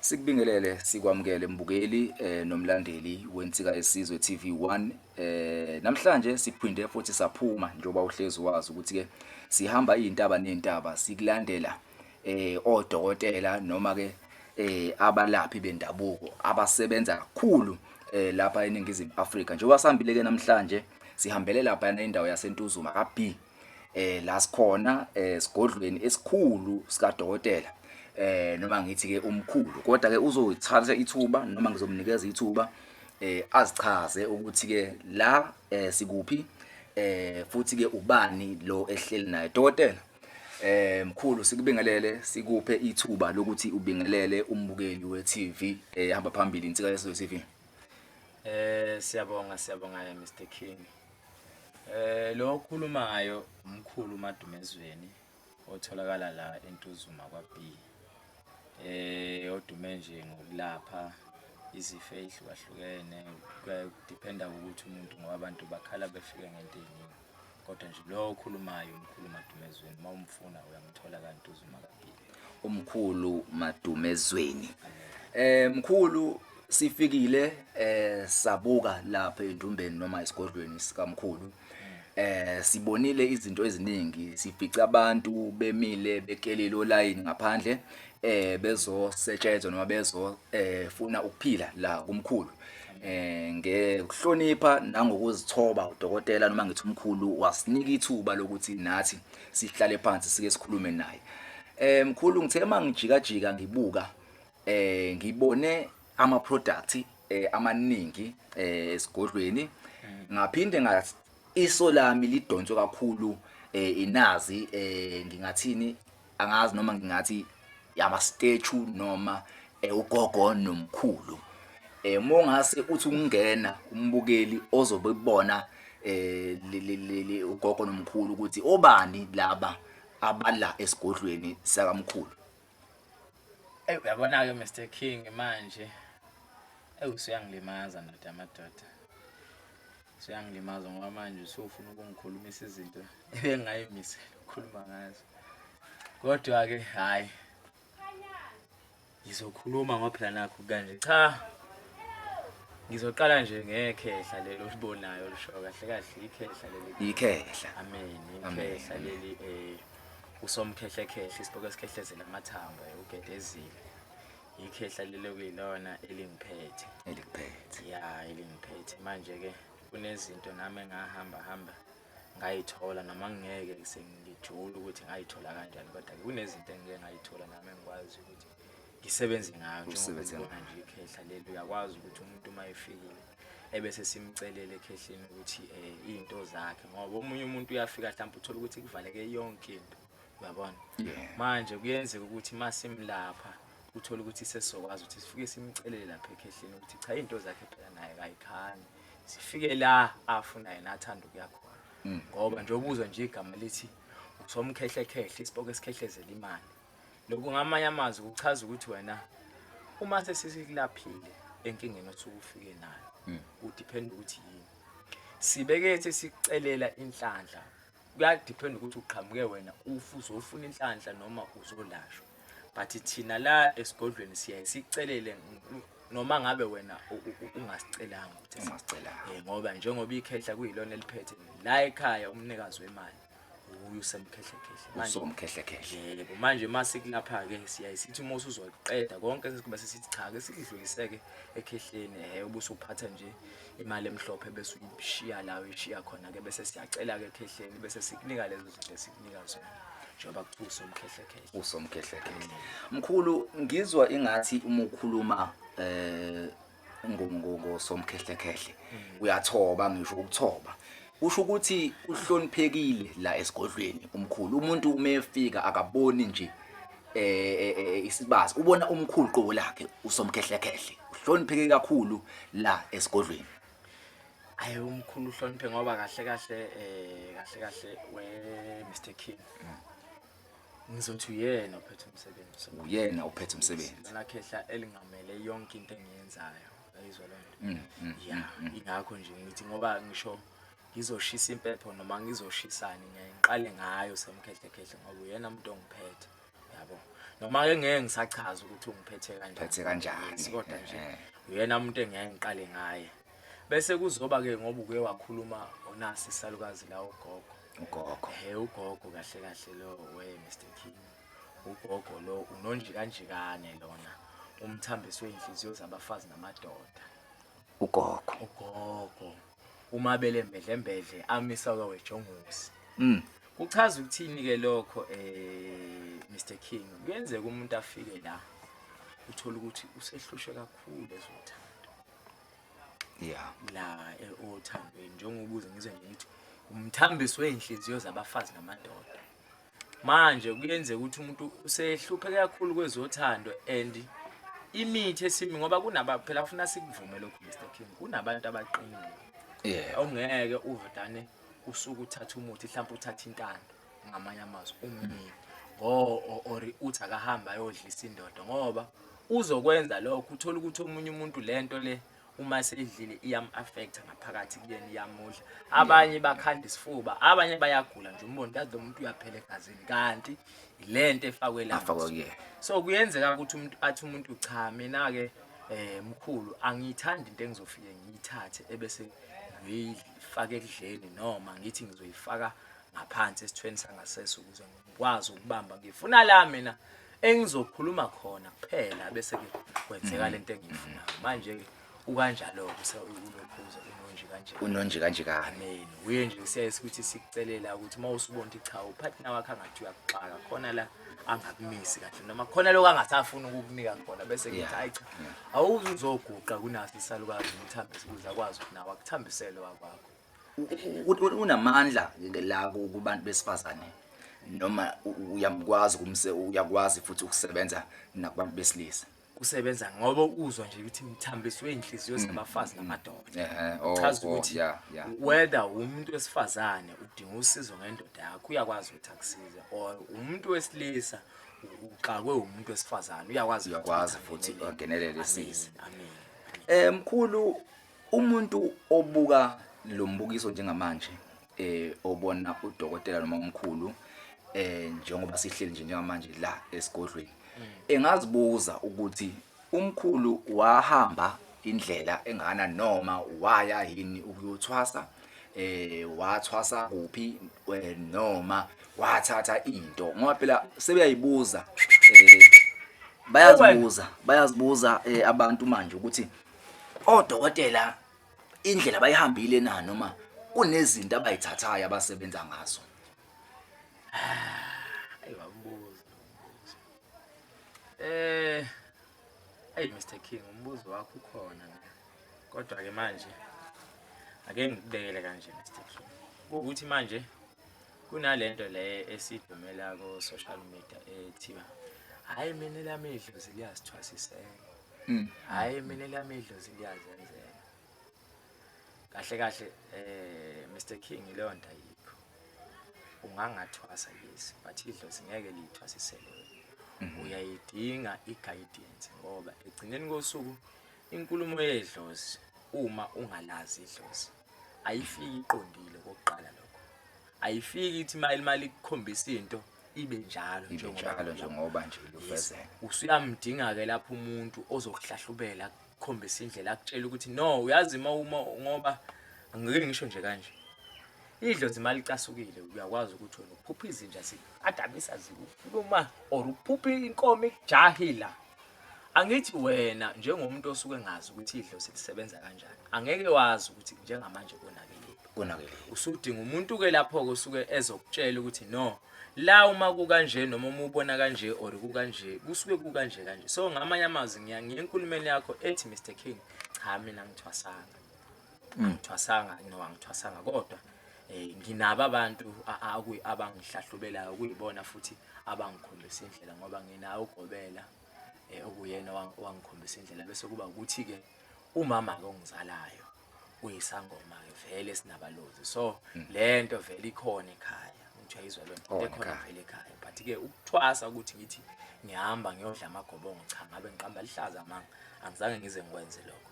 Sikubingelele sikwamukele mbukeli eh, nomlandeli wensika esizwe TV1 eh, namhlanje siphinde futhi saphuma njengoba uhlezi wazi ukuthi ke sihamba izintaba nezintaba sikulandela eh odokotela noma ke eh abalaphi bendabuko abasebenza kakhulu eh lapha eningizimu Afrika njengoba sambile ke namhlanje sihambele lapha endawo yaseNtuzuma ka B eh la sikhona eh, sigodlweni esikhulu sikadokotela eh noma ngithi ke umkhulu kodwa ke uzoyithatha ithuba noma ngizomnikeza ithuba eh azichaze ukuthi ke la eh, sikuphi eh futhi ke ubani lo ehleli naye dokotela eh mkhulu sikubingelele sikuphe ithuba lokuthi ubingelele umbukeli weTV ehamba phambili insika yeSizwe TV eh siyabonga siyabonga Mr King Eh lo okhulumayo umkhulu uMadumezweni otholakala la eNtuzuma kwaB. Eh odume nje ngokulapha izifo ezihlukahlukene kudependa ukuthi umuntu ngoba abantu bakhala befika ngento eziningi. Kodwa nje lo okhulumayo umkhulu uMadumezweni mawumfuna uyamthola kaNtuzuma kwaB. umkhulu Madumezweni eh mkhulu sifikile eh sabuka lapha endumbeni noma esigodlweni sikamkhulu eh sibonile izinto eziningi sifica abantu bemile bekelele olayini ngaphandle eh bezosetshenzwa noma bezo eh funa ukuphila la kumkhulu eh ngekuhlonipha nangokuzithoba udokotela noma ngithi umkhulu wasinika ithuba lokuthi nathi sihlale phansi sike sikhulume naye eh mkhulu ngithe uma ngijikajika ngibuka eh ngibone ama product eh amaningi eh esigodlweni ngaphinde nga iso lami lidonswe kakhulu eh inazi eh ngingathini angazi noma ngingathi yabastethu noma eh, ugogo nomkhulu eh mongase uthi ungena umbukeli ozobe kubona eh le- le- le- le- ugogo nomkhulu ukuthi obani laba abala esigodlweni sakamkhulu Eyi uyabona-ke Mr King manje eyi usuyangilimaza ndoda amadoda Suyangilimaza ngoba manje usufuna ukungikhulumisa izinto ebengayimisela ukukhuluma ngazo. Kodwa ke hayi. Ngizokhuluma ngoba phela nakho kanje cha. Ngizoqala nje ngekhehla lelo libonayo lisho kahle kahle ikhehla leli. Ikhehla. Amen. Ikhehla leli eh usomkhehle khehle isiboko esikhehlezela amathambo eh, ugedezile. ikhehla lelo kuyilona elingiphethe elikuphethe ya elingiphethe manje-ke kunezinto nami engahamba hamba ngayithola noma ngingeke sengijule ukuthi ngayithola kanjani kodwa-ke kunezinto engike ngayithola nami engikwazi ukuthi ngisebenze ngayo njengobona nje ikhehla leli uyakwazi ukuthi umuntu uma efikile ebese simcelele ekhehleni ukuthi um eh, iy'nto zakhe ngoba omunye umuntu uyafika mhlawumbe uthole ukuthi kuvaleke yonke into Uyabona? Yeah. Manje kuyenzeka ukuthi masimlapha uthola ukuthi sesizokwazi ukuthi sifike simcelele lapha ekhehleni ukuthi cha into zakhe phela naye kayikhani. Sifike la afuna yena athanda ukuya khona. Mm. Ngoba nje ubuzwa nje igama lithi usomkhehle khehle isiboko esikhehlezela imali. Lokhu ngamanye amazwi kuchaza ukuthi wena uma sesisikulaphile enkingeni osuke ufike nayo. Mm. Udepend ukuthi yini. Sibeke sesicelela inhlanhla kuyadiphenda ukuthi uqhamuke wena ufu uzofuna inhlanhla noma uzolashwa but thina la esigodlweni siyaye sicelele noma ngabe wena ungasicelanga ukuthi ungasicelanga eh, ngoba njengoba ikhehla kuyilona eliphethe la ekhaya umnikazi wemali ubuye usemkhehlekhehle manje umkhehlekhehle yebo manje uma sikulapha ke siyaye sithi uma usuzoqeda konke sesibe sesithi cha ke sidluliseke ekhehleni eh ubusuphatha nje imali emhlophe bese uyishiya la uyishiya khona ke bese siyacela ke ekhehleni bese sikunika lezo zinto esikunika zona njengoba kuthiwa usomkhehlekhehle usomkhehlekhehle mkhulu ngizwa ingathi uma ukhuluma eh ngosomkhehlekhehle mm. uyathoba ngisho ukuthoba usho ukuthi uhloniphekile la esigodlweni umkhulu umuntu uma efika akaboni nje eh isibazi ubona umkhulu qobo lakhe usomkhehlekehle uhlonipheke kakhulu la esigodlweni ayi umkhulu uhloniphe ngoba kahle kahle eh kahle kahle we Mr King ngizothi uyena ophethe umsebenzi uyena ophethe umsebenzi lakhehla elingamele yonke into engiyenzayo ayizwa lento mm, mm, yeah mm, ingakho nje ngithi ngoba ngisho ngizoshisa impepho noma ngizoshisani ngeke ngiqale ngayo semkhehlekhehla ngoba uyena umuntu ongiphethe yabo noma ke ngeke ngisachaza ukuthi ungiphethe kanjani phethe kanjani kodwa nje eh. uyena umuntu engeke ngiqale ngaye bese kuzoba ke ngoba uke wakhuluma onasi salukazi la ugogo ugogo he ugogo kahle kahle lo we Mr King ugogo lo unonje kanjikane lona umthambiswe inhliziyo zabafazi namadoda ugogo ugogo kumabele mbedlembedle amisa kwawejongosi mm. kuchaza ukuthini-ke lokho um eh, mr king kuyenzeka umuntu afike la uthole ukuthi usehlushwe kakhulu ezothando ya la eh, othandweni njengokuze ngizwe ngithi umthambiso wey'nhliziyo zabafazi namadoda manje kuyenzeka ukuthi umuntu usehlupheke kakhulu kwezothando and imithi esimi ngoba kunaba phela ufuna sikuvume lokhu Mr King kunabantu abaqinile yeah ongeke uvedane usuku uthatha umuthi mhlawumbe uthatha intando ngamanye amazwi umnini ngo or uthi akahamba ayodlisa indoda ngoba uzokwenza lokho uthola ukuthi omunye umuntu lento le uma seyidlile iyam-affecta ngaphakathi kuyena iyamudla abanye bakhanda isifuba abanye bayagula nje umbone kazi lo muntu uyaphela egazini kanti le nto efakwe la so kuyenzeka ukuthi umuntu athi umuntu cha mina-ke um mkhulu angiyithandi into engizofike ngiyithathe ebese ngiyifaka ekudleni noma ngithi ngizoyifaka ngaphansi esithweni sangasese ukuze wazi ukubamba ngifuna la mina engizokhuluma khona kuphela bese ke kwenzeka mm. lento engiyifunayo manje ke ukanjalo kuse unophuza unonje kanje unonje kanje ka amen uye nje siyase ukuthi sikucelela ukuthi uma usubonta cha upartner wakhe angathi uyakuxaka khona la angakumisi kahle noma khona lokho angasafuni ukukunika khona bese ngithi hayi cha awuzoguqa kunasi isalukazi umthambise ukuze akwazi ukuthi nawe akuthambisele wakwakho unamandla la kubantu besifazane noma uyamkwazi kumse uyakwazi futhi ukusebenza nakubantu besilisa usebenza ngoba uzwa nje ukuthi mthambiswe inhliziyo mm. zabafazi namadoda ehe oh, chaza oh, ukuthi whether umuntu wesifazane udinga usizo ngendoda yakho uyakwazi ukuthi akusize or umuntu wesilisa uxakwe umuntu wesifazane uyakwazi uyakwazi futhi ungenelele isize amen eh mkhulu Umuntu obuka lo mbukiso njengamanje eh obona udokotela noma umkhulu eh njengoba sihleli nje njengamanje la esigodlweni engazibuza ukuthi umkhulu wahamba indlela engana noma waya yini ukuyothwasa eh wathwasa kuphi eh, noma wathatha into ngoba phela sebeyayibuza eh bayazibuza bayazibuza eh, abantu manje ukuthi Odokotela indlela bayihambile na noma kunezinto abayithathayo abasebenza ngazo? Ayi wabuza. Eh Hey Mr King umbuzo wakho ukhona la. Kodwa ke manje ake ngikubekele kanje Mr King. Ukuthi manje kunalento le esidumela ko social media ethiwa hayi mina lami idlozi liyasithwasisela mm. hayi mina lami idlozi liyazenzela kahle kahle eh Mr King leyo nto ayikho ungangathwasa yes but idlozi ngeke liyithwasisele mm-hmm. uyayidinga i-guidance ngoba egcineni kosuku inkulumo yedlozi uma ungalazi idlozi ayifiki iqondile kokuqala lokho ayifiki ithi imali imali ikukhombisa into ibe njalo ibe njalo njengoba nje lufezeka usuyamdinga ke lapho umuntu ozokuhlahlubela akukhombisa indlela akutshela ukuthi no uyazi uma uma ngoba angeke ngisho nje kanje idlozi imali icasukile uyakwazi ukuthi wena uphupha izinja zikadabisa zikufuluma or uphupha inkomo ikujahila Angithi wena njengomuntu osuke engazi ukuthi idlozi lisebenza kanjani angeke wazi ukuthi njengamanje konakele konakele usudinga umuntu ke lapho-ke usuke ezokutshela ukuthi no la uma kukanje noma uma ubona kanje or kukanje kusuke kukanje kanje so ngamanye amazwi ngiya ngiye enkulumeni yakho ethi mr king cha mina ngithwasanga Mm. angithwasanga no angithwasanga kodwa eh nginabo abantu a- a- okuyi- abangihlahlubelayo kuyibona futhi abangikhombisa indlela ngoba nginawo ugobela eh okuyena owang- owangikhombisa indlela bese kuba ukuthi ke umama ke ongizalayo uyisangoma ke vele sinabalozi so lento vele ikhona ekhaya ngithiwa izwa lento Khona into ekhona ekhaya. vele ekhaya but ke ukuthwasa ukuthi ngithi ngihamba ngiyodla amagobongo cha ngabe ngiqamba lihlaza manga angizange ngize ngikwenze lokho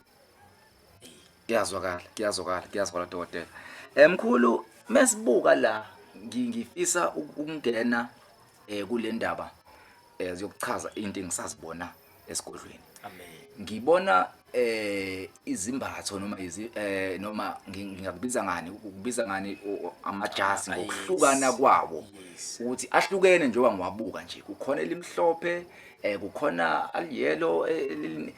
kuyazwakala kuyazwakala kuyazwakala dokotela eh mkhulu mesibuka la ngi- ngifisa uk- ukungena eh kule ndaba eh ziyokuchaza into engisazibona esigodlweni amen ngibona eh izimbatho noma izi eh noma ngi- ngingakubiza ngani ukubiza ngani o- o- amajazi Ah, yes. ngokuhlukana kwawo Yes. ukuthi ahlukene njengoba ngiwabuka nje kukhona elimhlophe eh kukhona aliyelo eh, elili-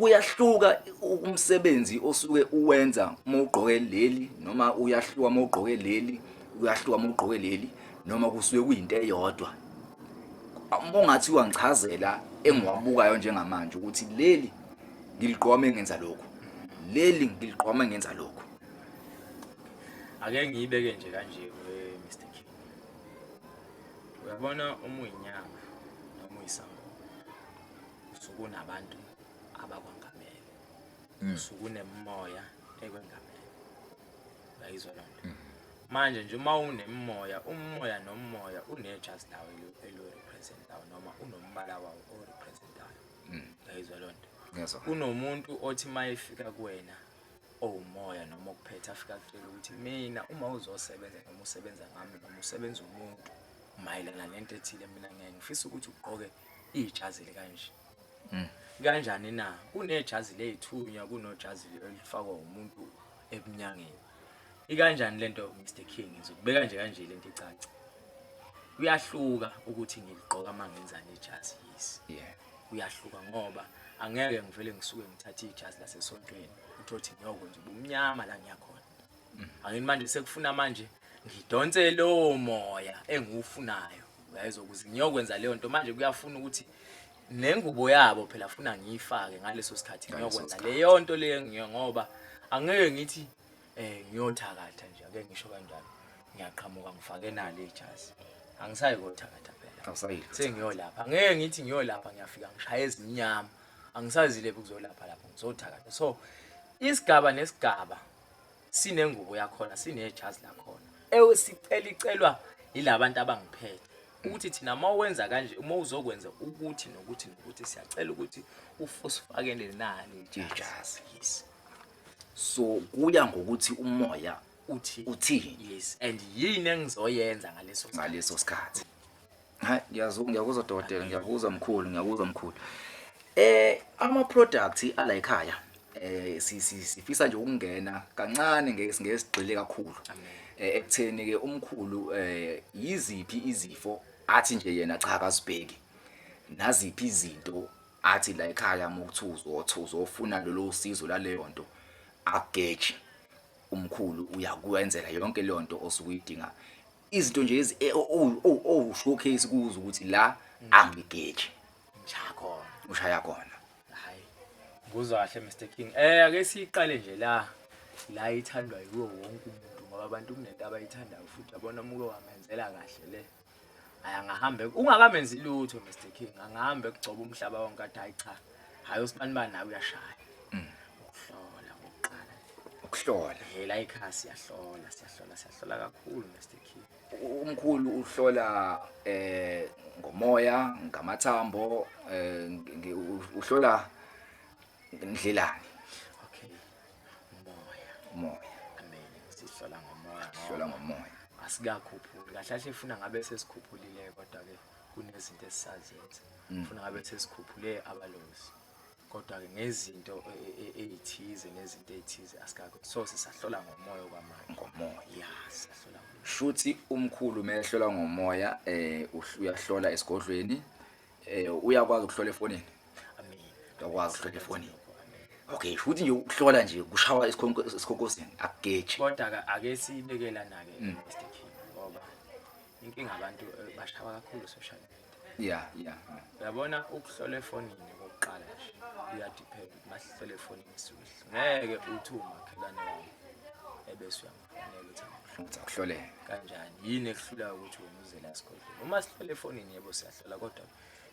kuyahluka umsebenzi osuke uwenza uma ugqoke leli noma uyahluka uma ugqoke leli uyahluka uma ugqoke leli noma kusuke kuyinto eyodwa uma ungathi wangichazela engiwabukayo njengamanje ukuthi leli ngiliqoma engenza lokhu leli ngiliqoma engenza lokhu ake ngiyibeke nje kanje eh, Mr King uyabona uma uyinyanga noma uyisangoma sukunabantu abakwangamele mm. sukunemoya ekwengamele bayizwa loo nto mm. manje nje uma unemoya umoya nomoya unejazi lawo elirepresentayo noma unombala wawo orepresentayo mm. bayizwa loo nto kunomuntu othi uma efika kuwena owumoya noma okuphethe afika kutshela ukuthi mina uma uzosebenza noma usebenza ngami noma usebenza umuntu mayelana nento ethile mina ngeke ngifisa ukuthi ugqoke ijazi likanje mm. kanjani na kunejazi leyithunywa kunojazi elifakwa umuntu ebunyangeni ikanjani lento Mr King ngizokubeka nje kanje lento icaca kuyahluka ukuthi ngiligqoka mangenzani ijazi yes yeah kuyahluka ngoba angeke ngivele ngisuke ngithathe ijazi lasesontweni uthothi ngiyokwenza ubumnyama la ngiyakhona angini manje sekufuna manje ngidonse lowo moya engiwufunayo uyayizwa ukuze ngiyokwenza leyo nto manje kuyafuna ukuthi nengubo yabo phela funa ngiyifake ngaleso sikhathi ngiyokwenza leyo nto leyo ngiyo ngoba angeke ngithi eh ngiyothakatha nje ake ngisho kanjalo ngiyaqhamuka ngifake nalo ijazi angisayi kothakatha phela awusayile sengiyolapha ngeke ngithi ngiyolapha ngiyafika ngishaya ezinyama angisazile ukuzolapha lapho ngizothakatha so isigaba nesigaba sinengubo yakhona sinejazi lakhona ewe sicela icelwa yilabantu abangiphethe ukuthi thina uma wenza kanje uma uzokwenza ukuthi nokuthi nokuthi siyacela ukuthi ufusifakele nani ijazi yes so kuya ngokuthi umoya uthi uthini yes and yini engizoyenza ngaleso ngaleso sikhathi hayi ngiyazwa ngiyakuzwa dokotela ngiyakuzwa mkhulu ngiyakuzwa mkhulu eh ama products ala ekhaya eh sifisa nje ukungena kancane ngesigxile kakhulu eh, ekutheni ke umkhulu eh yiziphi izifo athi nje yena cha akazibheki naziphi izinto athi la ekhaya mokuthuzo othuzo ofuna lolu usizo laleyo nto ageje umkhulu uyakwenzela yonke leyo nto osukuyidinga izinto nje ezi eh, o- o- o- owushowcase kuzo ukuthi la angigeji Njakhona. ushaya khona Hayi. Nguzwa kahle Mr King. Eh ake siqale nje la. La ithandwa yiwo wonke umuntu ngoba abantu kunento abayithandayo futhi yabona umuke wamenzela kahle le. Hayi angahambe ungakamenzi lutho Mr King. Angahambe kugcoba umhlaba wonke athi hayi cha. hayi usibanibani nawe uyashaya mm. ukuhlola ngokuqala ukuhlola hela ikhaya siyahlola siyahlola siyahlola kakhulu Mr King umkhulu uhlola eh ngomoya ngamathambo eh uhlola ndlelani okay umoya umoya amen sihlola ngomoya hlola ngomoya asikakhuphuli kahle kahle ifuna ngabe sesikhuphulile kodwa ke kunezinto esisazenza mm. funa ngabe sesikhuphule abalozi kodwa-ke ngezinto e, e, e, ey'thize nezinto ey'thize asikago so sisahlola ngomoya okwamanje ngomoya ya sisahlola shuthi umkhulu uma ehlola ngomoya um uyahlola esigodlweni um uyakwazi ukuhlola efonini uyakwazi ukuhlola efonini okay shuthi nje ukuhlola nje kushawa esikhonkosini akugeji kodwa-ke ake siyibekelana-ke mm. inkinga abantu eh, bashawa kakhulu social media ya ya uyabona ukuhlola efonini kokuqala nje uyadiphela ukuthi masihlole efonini suhle ngeke uthi umakhelwane wami ebese uyamfonela ukuthi angakuhlola akuhloleke kanjani yini ekuhlulayo ukuthi wena uzela esigodlweni uma sihlole efonini yebo siyahlola kodwa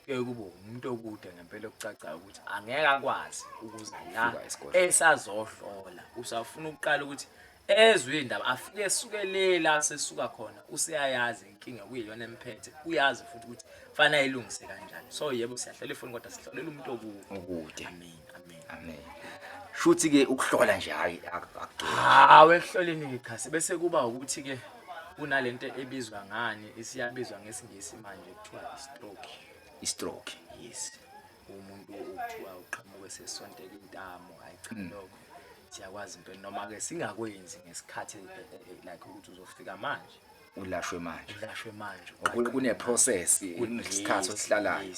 kuye kube umuntu okude ngempela okucacayo ukuthi angeke akwazi ukuza la Fika esigodlweni. esazohlola usafuna ukuqala ukuthi Ezwe indaba afike esuke lela asesuka khona useyayazi inkinga kuyiyona emphethe uyazi futhi ukuthi fana ayilungise kanjani so yebo siyahlela ifoni kodwa sihlolela umuntu okude okude amen amen amen shuthi ke ukuhlola nje hayi akugcini hawe ehloleni ikhasi bese kuba ukuthi ke kunalento ebizwa ngani isiyabizwa ngesingisi manje kuthiwa stroke istroke yes umuntu okuthiwa uqhamuke sesontela intamo hayi cha mm. lokho siyakwazi impela noma-ke singakwenzi ngesikhathi eh, eh, eh, like ukuthi uzofika manje ulashwe manje ulashwe manje kuneprocess kunesikhathi osihlalayo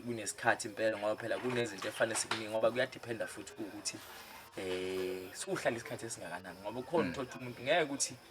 kunesikhathi impela ngoba phela kunezinto efanele sikuningi ngoba kuyadiphenda futhi ukuthi eh siwuhlala isikhathi esingakanani ngoba ukhona mm. uthola umuntu ngeke ukuthi mm.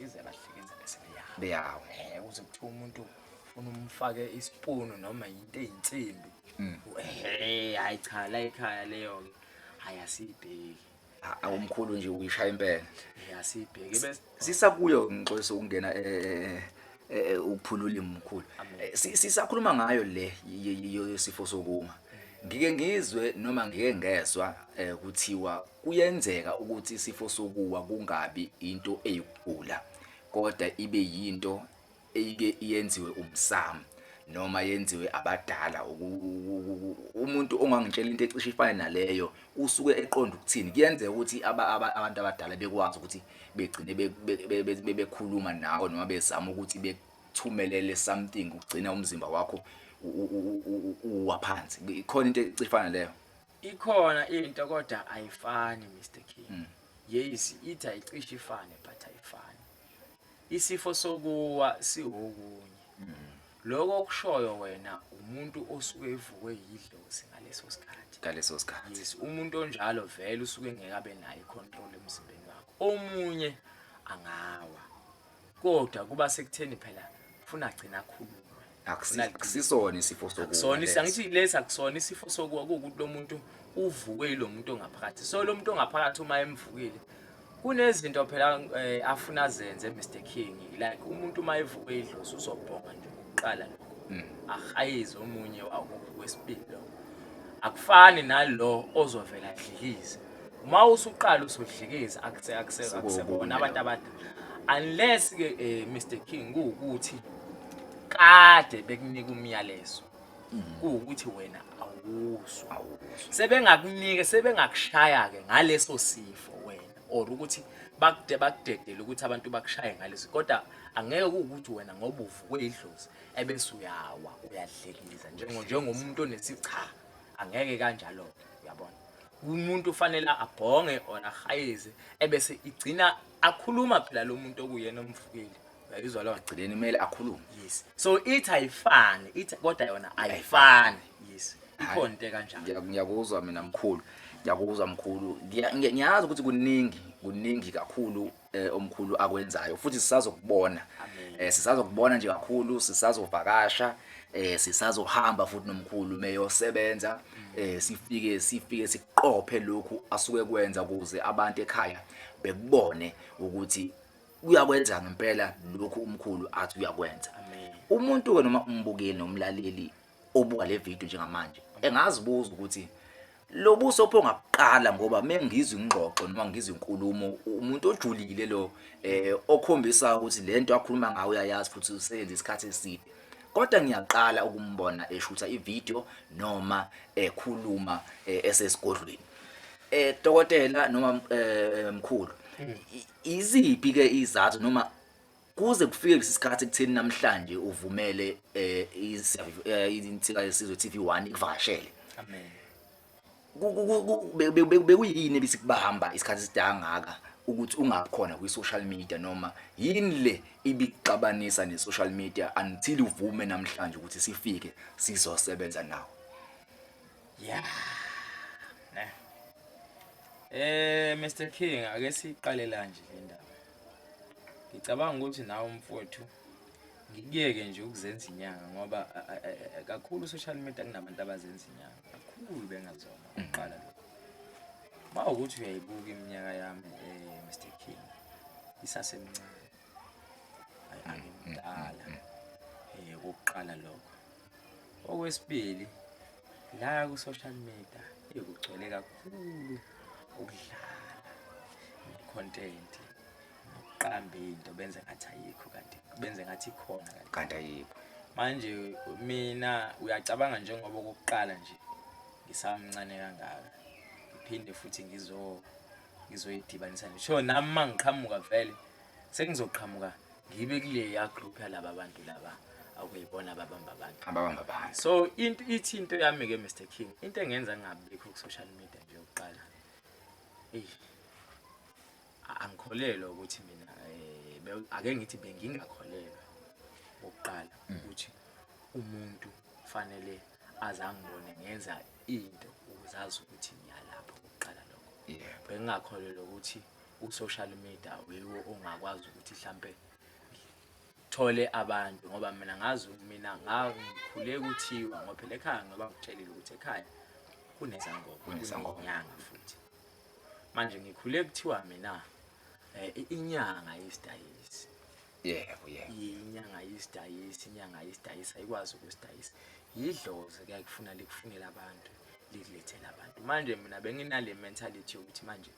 Ize bahlekenza bese beyawo. Beyawo. Eh uze kuthiwa umuntu ufuna umfake isipunu noma into eyinsimbi. Mm. Eh hayi cha la ekhaya leyo ke. Hayi asibheki. Awumkhulu nje uyishaya impela. Eh asibheki bese sisakuyo ngixolisa ukungena eh, eh, eh eh, eh, uphula ulimi mkhulu eh, sisakhuluma ngayo le yesifo sokuma ngike ngizwe noma ngike ngezwa kuthiwa kuyenzeka ukuthi isifo sokuwa kungabi into eyikugula kodwa ibe yinto eyike yenziwe umsamo noma yenziwe abadala umuntu ongangitshela into ecishe ifane naleyo usuke eqonda ukuthini kuyenzeka ukuthi abantu abadala bekwazi ukuthi begcine bebekhuluma nawe noma bezama ukuthi bekuthumelele something ugcina umzimba wakho uwa phansi ikhona into ecifana leyo ikhona into kodwa ayifani Mr King mm. yes ithi ayicishe ifane but ayifani isifo sokuwa siwokunye mm. Lokho okushoyo wena umuntu osuke evukwe yidlozi ngaleso sikhathi. Ngaleso sikhathi. Yes, umuntu onjalo vele usuke ngeke abe nayo icontrol emzimbeni wakho. Omunye angawa. Kodwa kuba sekutheni phela ufuna agcina akhulume. Akusisona isifo sokuwa. Akusona isangithi lesa akusona isifo sokuwa ukuthi lo muntu uvukwe yilomuntu ongaphakathi. So lo muntu ongaphakathi uma emvukile Kunezinto phela eh, afuna azenze Mr King like umuntu uma evuka idlozi uzobhonga nje kuqala lokho mm. ahayize omunye wakuphi kwesibili lo akufani nalo ozovela adlilize uma usuqala usudlikiza akuse akuse akusebona abantu abadala unless ke eh, Mr King kuwukuthi kade bekunika umyalezo kuwukuthi wena awuzwa awuzwa sebengakunike sebengakushaya ke ngaleso sifo wena or ukuthi bakude bakudedele ukuthi abantu bakushaye ngaleso kodwa angeke kuwukuthi wena ngoba uvukwe idlozi ebese uyawa uyadlekiliza njengomuntu onesicha angeke kanjalo uyabona umuntu ufanele abhonge or ahayeze ebese igcina akhuluma phela lo muntu okuyena omvukeli uyayizwa lo agcileni kumele akhulume yes so ithi ayifani ithi kodwa yona ayifani yes ikhona into kanjani Ngiya- ngiyakuzwa mina mkhulu ngiyakuzwa mkhulu Ngiya- ngiya- ngiyazi ukuthi kuningi kuningi kakhulu eh, omkhulu akwenzayo futhi sisazokubona eh, sisazokubona nje kakhulu sisazovakasha eh, sisazohamba futhi nomkhulu meyosebenza eh, sifike sifike siqophe lokhu asuke kwenza ukuze abantu ekhaya bekubone ukuthi uyakwenza ngempela lokhu umkhulu athi uyakwenza umuntu ke noma umbukeli nomlaleli obuka le video njengamanje engazibuza ukuthi lobuso pho ngakuqala ngoba mengizwe ingxoxo noma ngizwe inkulumo umuntu ojulile lo eh okhombisa ukuthi lento akhuluma ngayo uyayazi futhi usebenza isikhathi eside kodwa ngiyaqala ukumbona eshutha ivideo noma ekhuluma eh, esesigodlweni eh dokotela noma eh, mkhulu Iziphi ke izathu noma kuze kufike lesisikhathi kutheni namhlanje uvumele eh insika yesizwe TV1 ikuvakashele. Amen. Bekuyini ebisikubahamba isikhathi sidangaka ukuthi ungakhona kwi social media noma yini le ibixabanisa ne social media until uvume namhlanje ukuthi sifike sizosebenza nawo. ya ne eh Mr King ake siqale la nje le ndaba ngicabanga ukuthi nawe mfowethu ngikuyeke nje ukuzenza inyanga ngoba kakhulu social media kunabantu abazenza inyanga kakhulu bengazona uqala lo ba ukuthi uyayibuka iminyaka yami eh Mr King isasemncane ayangimdala mm, mm, mm. eh ukuqala lokho Okwesibili la ku-social media eyi kugcwele kakhulu ukudlala ne-content nokuqamba into benze ngathi ayikho kanti benze ngathi ikhona kanti kanti ayikho manje mina uyacabanga njengoba okokuqala nje ngisamncane kangaka ngiphinde futhi ngizo ngizoyidibanisa nje so nami mangiqhamuka vele sengizoqhamuka ngibe kuleya group yalaba bantu laba akuyibona ababamba abantu ababamba abantu so into ithi into yami ke Mr King into engenza ngingabikho ku social media nje ukuqala eh angikholelwa ukuthi mina eh, ake ngithi bengingakholelwa ukuqala mm. ukuthi umuntu fanele azangibone ngenza into ukuzazi ukuthi ngiyalapho ukuqala lokho bengingakholelwa ukuthi u-social media wiwo ongakwazi ukuthi hlampe thole abantu ngoba mina ngazi mina ngikhule kuthiwa ngoba phela ekhaya ngoba ngitshelile ukuthi ekhaya kunezangoma kunezangonyanga futhi manje ngikhule kuthiwa mina eh, inyanga yesidayisi yebo yebo inyanga yesidayisi inyanga yesidayisi ayikwazi ukusidayisa yidlozi kuyakufuna likufunela abantu likulethela abantu manje mina benginale mentality yokuthi manje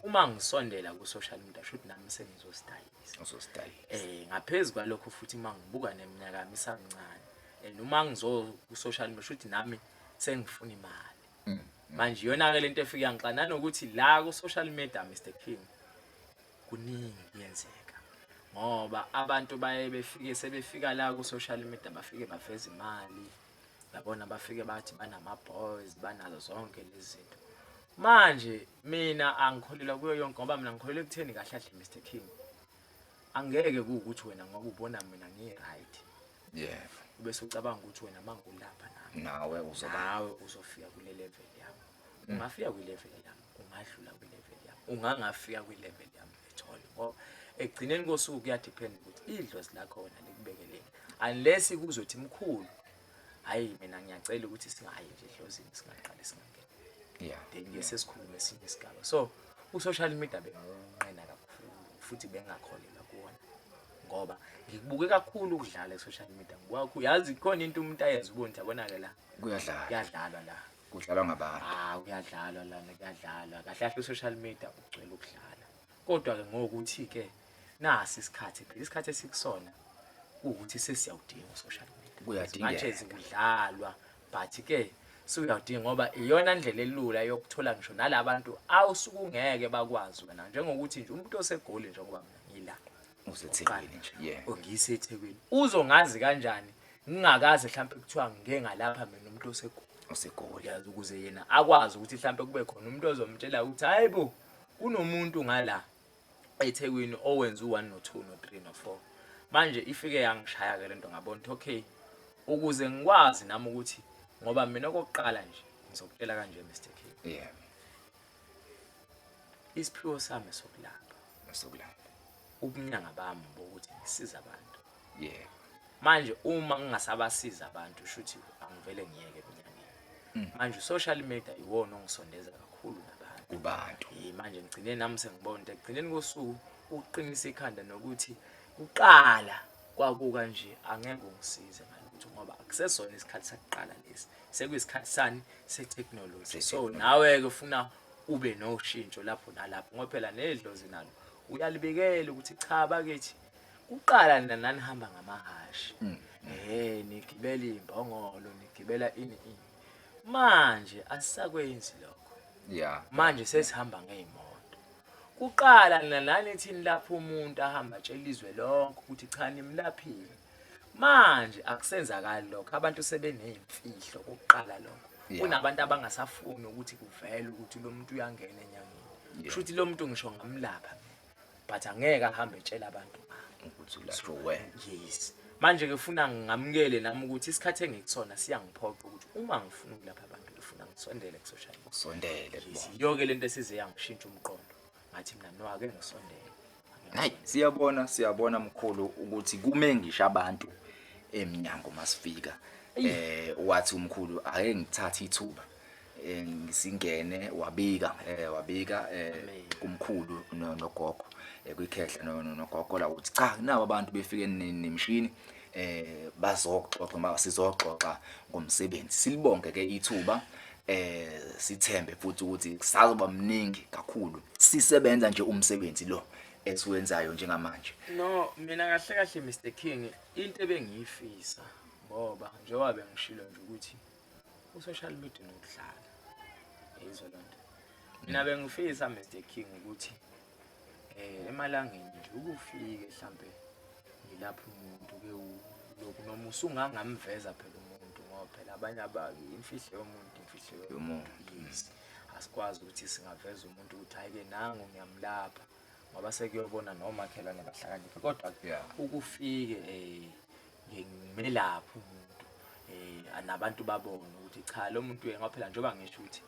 uma ngisondela ku social media should nami sengizostylisa uzostylisa eh ngaphezulu kwalokho futhi uma ngibuka neminyaka yami isamncane and uma ngizo ku social media should nami sengifuna imali mm, mm. manje yona ke lento efika ngixana nanokuthi la ku social media Mr King kuningi kuyenzeka ngoba abantu baye befike sebefika la ku social media bafike baveza imali yabona bafike bathi banama-boys banazo zonke lezi zinto manje mina angikholelwa kuyo yonke ngoba mina ngikholelwa ekutheni kahle kahle mr king angeke kuwukuthi wena ngoba ubona mina ngiyi-right yebo ube sucabanga ukuthi wena mangulapha nami nawe uzoba nawe uzofika kule level yami ungafika kwi-level yami ungadlula kwi-level yami ungangafika kwi-level yami ethole ngoba ekugcineni kosuku kuyadiphenda ukuthi idlozi lakhona likubekeleni unless kuzothi mkhulu hhayi mina ngiyacela ukuthi singayi nje edlozini singaqali singangeni yeah. then ngeke sesikhulume esinye isigaba so u-social media bengiwunqena kakhulu futhi bengakholelwa kuwona ngoba ngikubuke kakhulu ukudlala e-social media ngibuka yazi khona into umuntu ayenza ubonja konake la kuyadlalwa kuyadlalwa la kudlalwa ngabantu Ah kuyadlalwa lana kuyadlalwa. Kahle kahle social media ugcwele ukudlala. Kodwa ke ngokuthi ke nasi isikhathi phela isikhathi esikusona ukuthi sesiyawudinga social media. Kuyadingeka. Manje zikudlalwa but ke suyawudinga ngoba iyona ndlela elula yokuthola ngisho nalabantu awusukungeke bakwazi wena njengokuthi nje umuntu osegoli njengoba mina ngila. usethekwini nje yeah ongiyise ethekwini uzongazi kanjani ngingakaze mhlawumbe kuthiwa ngike ngalapha mina umuntu osegoli osegoli yazi ukuze yena akwazi ukuthi mhlawumbe kube khona umuntu ozomtshela ukuthi hayi bo kunomuntu ngala ethekwini owenza u-1 no-2 no-3 no-4 manje ifike yangishaya-ke le nto ngabona ukuthi okay ukuze ngikwazi nami ukuthi ngoba mina okokuqala nje ngizokutshela kanje mr k yeah isiphiwo sami sokulapha sokulapha ubunyanga bami bokuthi ngisiza abantu yeah manje uma ngingasabasiza abantu shuthi angivele ngiyeke ebunyangeni mm. manje social media iwona ongisondeza kakhulu nabantu kubantu manje ngigcine nami sengibona ukuthi ekugcineni kosuku ukuqinisa ikhanda nokuthi kuqala kwakuka nje angeke ungisize ngalutho ngoba akusesona isikhathi sakuqala lesi sekuyisikhathi sani sethekhnoloji so nawe-ke ufuna ube noshintsho lapho nalapho ngoba phela nedlozi nalo uyalibikela ukuthi cha bakithi kuqala nina nanihamba ngamahhashi um nigibela iy'mbongolo nigibela ini ini manje asisakwenzi lokho ya manje sesihamba ngey'moto kuqala nina nanithini lapho umuntu ahamba atshela izwe lonke ukuthi cha nimlaphile manje akusenzakali lokho abantu sebeneyimfihlo ukuqala lokho kunabantu abangasafuni ukuthi kuvele ukuthi lo muntu uyangena enyangeni kusho ukuthi lo muntu ngisho ngamlapha but angeke ahambe etshela abantu ukuthi ulatshwe wena yes manje ke funa ngamukele nami ukuthi isikhathi engikusona siyangiphoqa ukuthi uma ngifuna ukulapha abantu ngifuna ngisondele kusoshayi kusondele yonke lento esize yangishintsha umqondo ngathi mina no ake ngisondele Hayi siyabona siyabona mkhulu ukuthi kume ngisho abantu emnyango masifika. Eh wathi umkhulu ake ngithathe ithuba eh, ngisingene wabika eh wabika eh kumkhulu no- nogogo eh, kwikhehla no- no- nogogo la uthi cha nabo abantu befike ne- nemshini eh bazoxoxa ma sizoxoxa ngomsebenzi silibonke ke ithuba eh sithembe futhi ukuthi kusazoba mningi kakhulu sisebenza nje umsebenzi lo esiwenzayo njengamanje no mina kahle kahle Mr King into ebengiyifisa ngoba njengoba bengishilo nje ukuthi usocial media nokudlala izolonto mina bengifisa Mr King ukuthi eh emalangeni nje ukufike mhlambe ngilapha umuntu ke lokhu noma usungangamveza phela umuntu ngoba phela abanye abaki imfihlo yomuntu imfihlo yomuntu yes asikwazi ukuthi singaveza umuntu ukuthi hayi ke nangu ngiyamlapha ngoba sekuyobona nomakhelwane bahlakaniphe kodwa ukufike eh ngimelapha umuntu eh anabantu babone ukuthi cha lo muntu yena phela njengoba ngisho ukuthi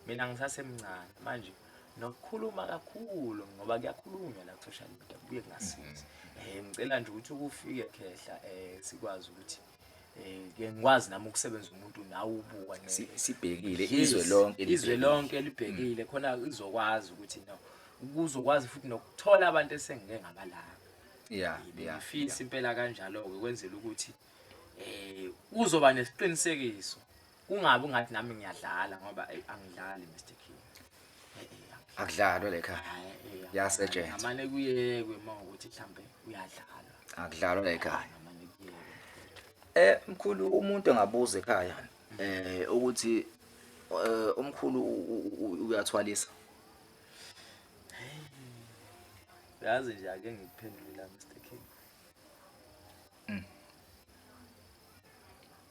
mina ngisasemncane manje nokukhuluma kakhulu ngoba kuyakhulunywa la social media kubuye kungasizi mm-hmm. um ngicela nje ukuthi ukufike khehla um sikwazi ukuthi um ke ngikwazi nami ukusebenza umuntu nawe ubuka sibhekile izwe lonke izwe lonke libhekile mm. khona izokwazi ukuthi no kuzokwazi futhi nokuthola abantu esengike ngabalanga ya ngifisa impela kanjalo-ke kwenzela ukuthi um uzoba nesiqinisekiso kungabi ungathi nami ngiyadlala ngoba eyi angidlali Mr King Eh, eh, angidlali. akudlalwe le khaya Hhayi, eh, Kuyasetshenzwa. ngamane kuyekwe uma ukuthi mhlambe uyadlalwa akudlalwe le khaya ngamane kuyekwe Eh mkhulu umuntu engabuza ekhaya eh ukuthi eh umkhulu u- u- u- uyathwalisa. yazi nje ake ngikuphendule la Mr King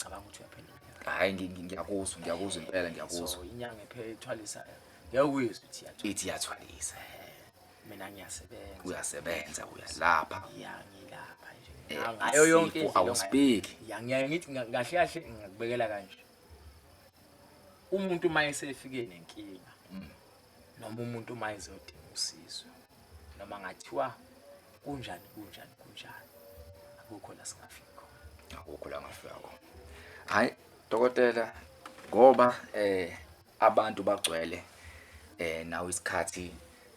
cabanga ukuthi uyaphendula hayi ngi- ngi- ngiyakuzwa ngiyakuzwa impela ngiyakuzwa so inyanga ephela ithwalisa ngeke uyizwe ukuthi iyathwala ithi iyathwalisa mina ngiyasebenza uyasebenza uyalapha ya ngilapha nje Eh, Nga- ngayo yonke isifo indlela ongayi- awusibheki. ya ngiyaye ngithi nga- kahle kahle ngingakubekela kanje umuntu uma esefike nenkinga noma umuntu uma ezodinga usizo noma ngathiwa kunjani kunjani kunjani akukho la singafika khona akukho la ngafika khona hayi dokotela ngoba eh abantu bagcwele eh nawe isikhathi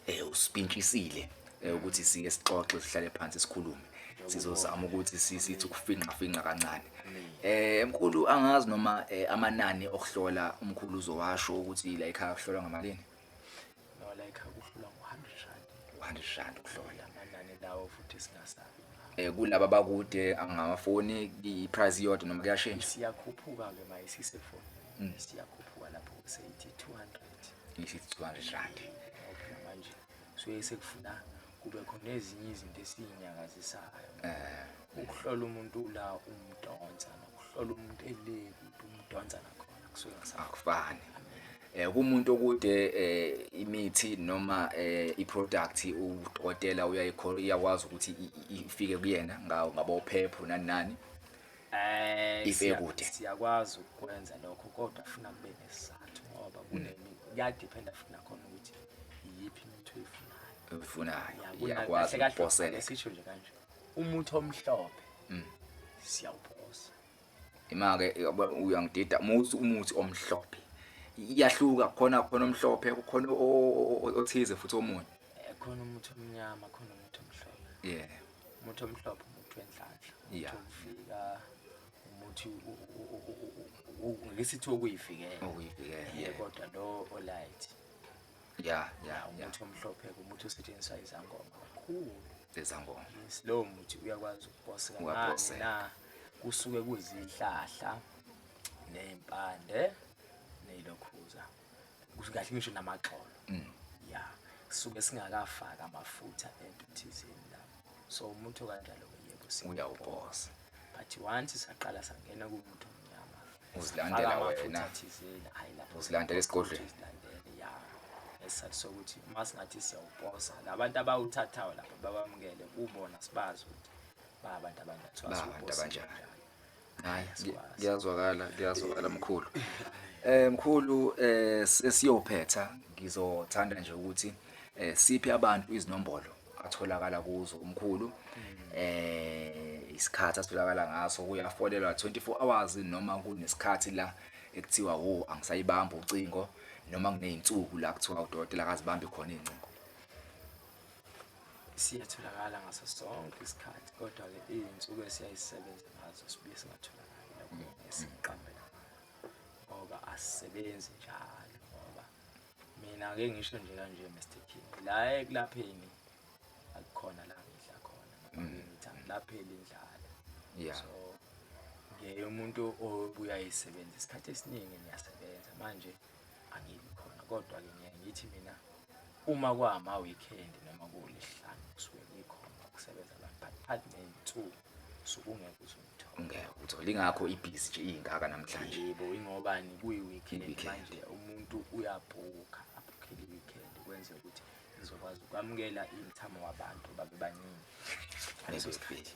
eh usipintshisile eh, ukuthi sike sixoxe sihlale phansi sikhulume sizozama ukuthi sithi ukufinqa finqa kancane eh mkhulu angazi noma eh, amanani okuhlola umkhulu uzowasho ukuthi la ekhaya kuhlolwa ngamalini no la ekhaya kuhlolwa ngo100 rand 100 rand ukuhlola amanani lawo futhi singasabi eh kulaba bakude angamafoni i price iyodwa noma kuyashintsha siyakhuphuka ke maye sisefoni mm. siyakhuphuka lapho seyithi 200 ngithi 200 rand manje suke sekufuna kube khona ezinye izinto esiyinyakazisayo eh. ukuhlola umuntu la umdonsa nokuhlola umuntu eleki umdonsa nakhona kusuke akufani eh kumuntu okude eh, imithi noma eh, iproduct udokotela uyayikhola iyakwazi ukuthi ifike kuyena ngawo ngabophepho nani nani Eh, If siya- ekude. siyakwazi ukwenza lokho kodwa funa kube nesizathu ngoba kunemi kuyadephenda futhi nakhona ukuthi iyiphi imithi oyifunayo ufunayo Ya, kuna- iyakwazi kahle kahle ukuphosela sisho nje kanje umuthi omhlophe Mm. siyawuphosa imake yabo, uyangidida uma uthi umuthi omhlophe iyahluka khona khona omhlophe khona o- o- o- othize futhi omunye Eh, khona umuthi omnyama khona umuthi omhlophe yeah umuthi omhlophe umuthi wenhlanhla Yeah. ukufika umuthi ngisithi okuyivikela Okuyivikela, ye yeah. kodwa lo olight ya ya ya umuthi omhlophe umuthi osetshenziswa izangoma kakhulu lezangoma yes lowo muthi uyakwazi ukuphose kancane Uyaphoseka. na kusuke kuzihlahla nezimpande nezilokhuza kahle ngisho namaxolo mm. ya suke singakafaka amafutha ento thizeni la so umuntu kanjalo yebo uyawubosa but once saqala sangena kumuntu omnyama uzilandela wena thizeni hayi lapho uzilandela esigodlweni ya esizathu sokuthi uma singathi siyawubosa labantu abawuthathayo lapho babamukele kubona sibazi ukuthi ba abantu abanjani ba abantu abanjani hayi asikwazi kuyazwakala kuyazwakala mkhulu eh mkhulu eh sesiyophetha ngizothanda nje ukuthi eh siphe abantu izinombolo atholakala kuzo umkhulu eh isikhathi asitholakala ngaso kuyafonelwa 24 hours noma kunesikhathi la ekuthiwa wo angisayibamba ucingo noma kuneyinsuku la kuthiwa udokotela akazibambi khona izincingo siyatholakala ngaso sonke isikhathi kodwa-ke iy'nsuku esiyayisebenza ngazo sibuye singatholakali lokho esiqambela ngoba asisebenzi njalo ngoba mina-ke ngisho nje kanje mr king la ekulapheni akukhona la ngidla khona mm. ngithi angilapheli indlala so ngiye umuntu obuye ayisebenzisa isikhathi esiningi ngiyasebenza manje yeah. angibi khona kodwa-ke ngiye ngithi mina uma kwama-weekend noma kuwulihlanu kusuke kuyikhona ukusebenza la but athi ney'nsuku suke ungeke uze umthole ngeke uthole ingakho ibhizi nje iyingaka namhlanje yebo ingobani kuyi-weekend Yi-weekend. manje umuntu uyabhukha abhukhele i-weekend kwenze ukuthi ngizokwazi ukwamukela imthamo wabantu babe baningi ngaleso sikhathi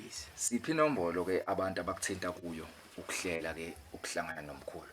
yes siphi inombolo ke abantu abakuthinta kuyo ukuhlela ke ukuhlangana nomkhulu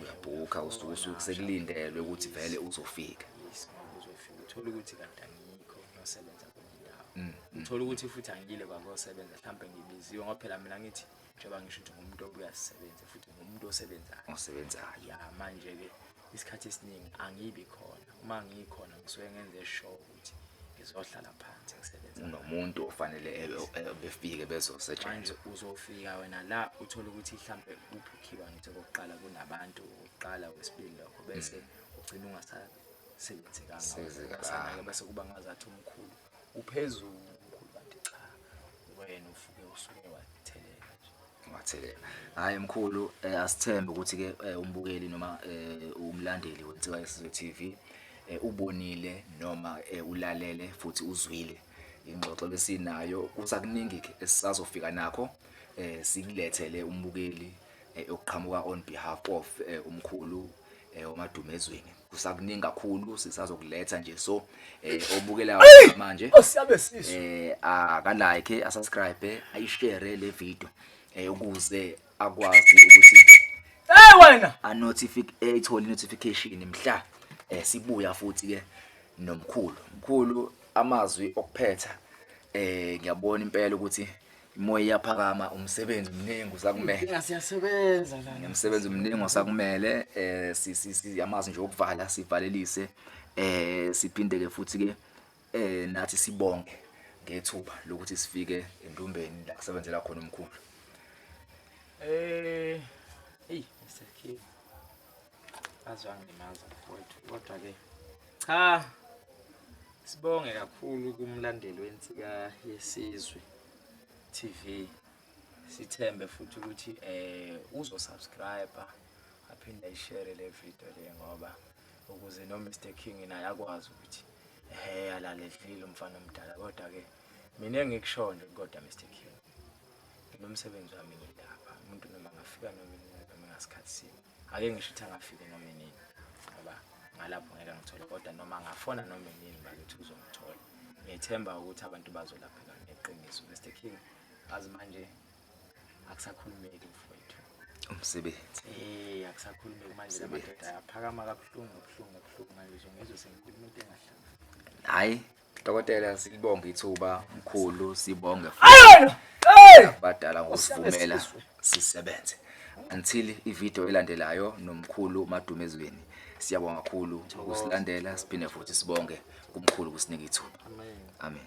uyabhukha usuke usuke sekulindelwe ukuthi vele uzofika uthola ukuthi kanti angikho ngiyosebenza kwenye indawo mm, mm. uthola ukuthi futhi angiyile kwakuyosebenza mhlawumbe ngibiziwe ngoba phela mina ngithi njengoba ngisho ukuthi ngumuntu obuya sisebenze futhi ngumuntu osebenzayo osebenzayo ya manje-ke isikhathi esiningi angibi khona uma ngikhona ngisuke ngenze show ukuthi ngizohlala phansi ngisebenza nomuntu ofanele befike bezosetshenziswa uzofika wena la uthole ukuthi mhlambe ubhukhiwa ngithi okokuqala kunabantu okokuqala wesibili lokho bese mm. ugcina ungasasebenzi kangaka bese kuba ngazathi umkhulu uphezulu umkhulu kanti cha wena ufuke usuke wathelela nje Wathelela. Hayi mkhulu eh, asithembe ukuthi ke eh, umbukeli noma eh, umlandeli weNsika Yesizwe TV eh, ubonile noma eh, ulalele futhi uzwile ingxoxo lesinayo kusakuningi ke esisazofika nakho eh, sikulethele umbukeli eh, okuqhamuka on behalf of eh, umkhulu eh umadumezweni kusakuningi kakhulu sisazokuletha nje so eh obukela manje osiyabe sisu eh aka like asubscribe ayishare le video eh ukuze akwazi ukuthi hey wena a notification eh, ithole notification mhla eh sibuya futhi ke nomkhulu mkhulu amazwi okuphetha eh ngiyabona impela ukuthi Imoya iyaphakama umsebenzi mningi usakumele. Inga siyasebenza la. Ngimsebenzi mningi osakumele eh si- si- siyamazi nje ukuvala sivalelise eh siphinde ke futhi ke eh nathi sibonge ngethuba lokuthi sifike endumbeni la kusebenzela khona umkhulu. Eh, hey, Mr. King. Aze wangilimaza mfowethu kodwa ke cha sibonge kakhulu kumlandeli wensika yesizwe TV sithembe futhi ukuthi eh uzo subscribe aphinde ayishare le video le ngoba ukuze no Mr King naye akwazi ukuthi eh alaledlile umfana omdala kodwa ke mina engikushoyo nje kodwa Mr King nginomsebenzi wami ngilapha umuntu noma ngafika noma noma ngasikhathi sini ake ngisho ukuthi angafike noma inini ngoba ngalapho ngeke ngithole kodwa noma angafona noma inini bakithi uzongithola ngiyethemba ukuthi abantu bazolapheka ngeqiniso Mr King azi manje akusakhulumeki mfowethu umsebenzi eh akusakhulumeki manje lamadoda ayaphakama kabuhlungu kabuhlungu kabuhlungu manje ngizwe sengikhuluma into engahlanga hayi Dokotela silibonga ithuba mkhulu sibonge Ayona! Hey! badala ngokusivumela sisebenze until ivideo elandelayo nomkhulu madumezweni siyabonga kakhulu ukusilandela siphinde futhi sibonge kumkhulu kusinika ithuba amen